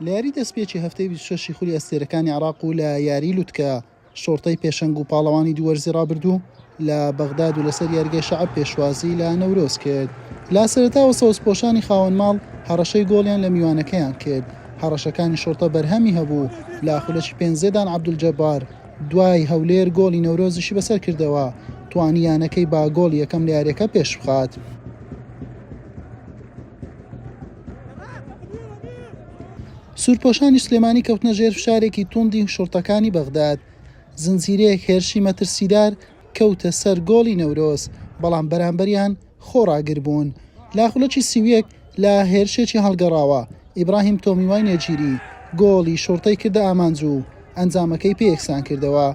لە یاری دەستپێکی هەفتەی 26 ی خولی ئەستێرەکانی عراق و لە یاری لوتکە شۆڕتەی پێشەنگ و پاڵەوانی دووەرزی ڕابردوو لە بەغداد و لەسەر یارگەی شەعب پێشوازی لە نەورۆز کرد لە سەرتاوە سەوزپۆشانی خاوەن ماڵ هەڕەشەی گۆڵیان لە میوانەکەیان کرد هەڕەشەکانی شۆڕتە بەرهەمی هەبوو لە خولەکی پێنجێدان عەبدولجەبار دوای هەولێر گۆڵی نەورۆزیشی بەسەر کردەوە توانی یانەکەی با گۆڵی یەکەم لە یاریەکە پێشبخات. سوورپۆشانی سلێمانی کەوتنە ژێر فشارێکی توندی شوڕتەکانی بەغداد زنجیرەیەک هێرشی مەترسیدار کەوتە سەر گۆڵی نەورۆز بەڵام بەرامبەریان خۆڕاگر بوون لاخولەکی سیویەک لە هێرشێکی هەڵگەڕاوە ئیبراهیم تۆمیوای نێجیری گۆڵی شوڕتەی کردە ئامانج و ئەنجامەکەی پێ یەکسان کردەوە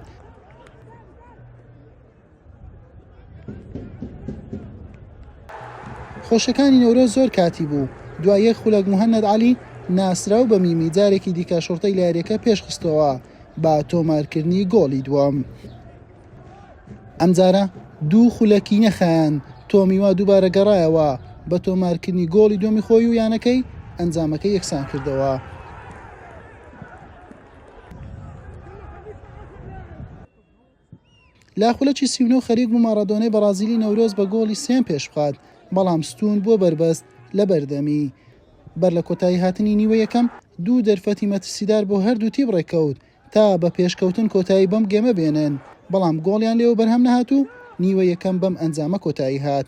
خۆشەکانی نەورۆز زۆر کاتی بوو دوای یەک خولەک مهند علی ناسراو بە میمی جارێکی دیکە شڕتەی لە یاریەکە پێشخستەوە با تۆمارکردنی گۆڵی دووەم ئەمجارە دوو خولەکی نەخایەن تۆمیوا دووبارە گەڕایەوە بە تۆمارکردنی گۆڵی دومی خۆی و یانەکەی ئەنجامەکە یەکسان کردەوە لە خولەکی سی و نۆ خەریک بوو ماڕادۆنای بەڕازیلی نەورۆز بە گۆڵی سێیەم پێش بخات، بەڵام ستوون بۆ بەربەست لە بەردەمی. بەر لە کۆتاییهاتنی نیوەی یەکەم، دوو دەرفەتی مەترسیدار بۆ هەردوو تیپ ڕێککەوت تا بە پێشکەوتن کۆتایی بەم گێمە بێنن، بەڵام گۆڵیان لێوە بەرهەم نەهات و نیوەی یەکەم بەم ئەنجامە کۆتایی هات.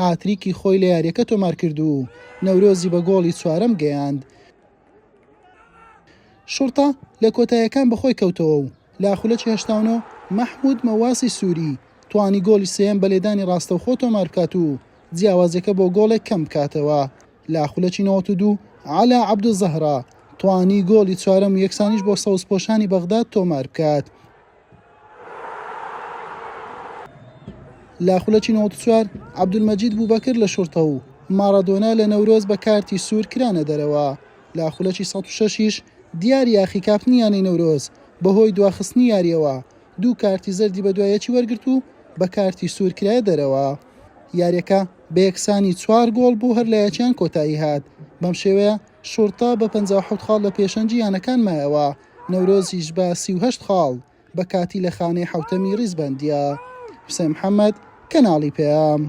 هاتریکی خۆی لە یارییەکە تۆمارکرد و نەورۆزی بە گۆڵی چوارەم گەیاند. شوڕتە لە کۆتاییەکان بەخۆی کەوتەوە و لە خولەکی هەشتا و نۆ مەحمود مەواسی سوری توانی گۆڵی سێیەم بە لێدانی ڕاستەوخۆ تۆماربکات و جیاوازیەکە بۆ گۆڵێک کەمبکاتەوە. لە خولەکی نەوەد و دوو عەلا عەبدولزەهرا توانی گۆڵی چوارەم و یەکسانیش بۆ سەوزپۆشانی بەغداد تۆماربکات. لە خولەکی نەوەد و چوار عەبدولمەجید بوبەکر لە شوڕتە و ماڕادۆنا لە نەورۆز بە کارتی سوور کرانە دەرەوە، لە خولەکی سەد و شەش یش دیار یاخی کاپتنی یانەی نەورۆز بەهۆی دواخستنی یارییەوە دوو کارتی زەردی بەدوای یەکی وەرگرت و بە کارتی سوور کرایە دەرەوە. یارییەکە بە یەکسانی چوار گۆڵ بۆ هەر لایەکیان کۆتایی هات، بەم شێوەیە شوڕتە بە پەنجا و حەوت خاڵ لە پێشەنگی یانەکان مایەوە. نەورۆزیش بە سی و هەشت خاڵ بە کاتی لە خانەی حەوتەمی ڕیزبەندییە. حوسێن محەمەد، کەناڵی پەیام.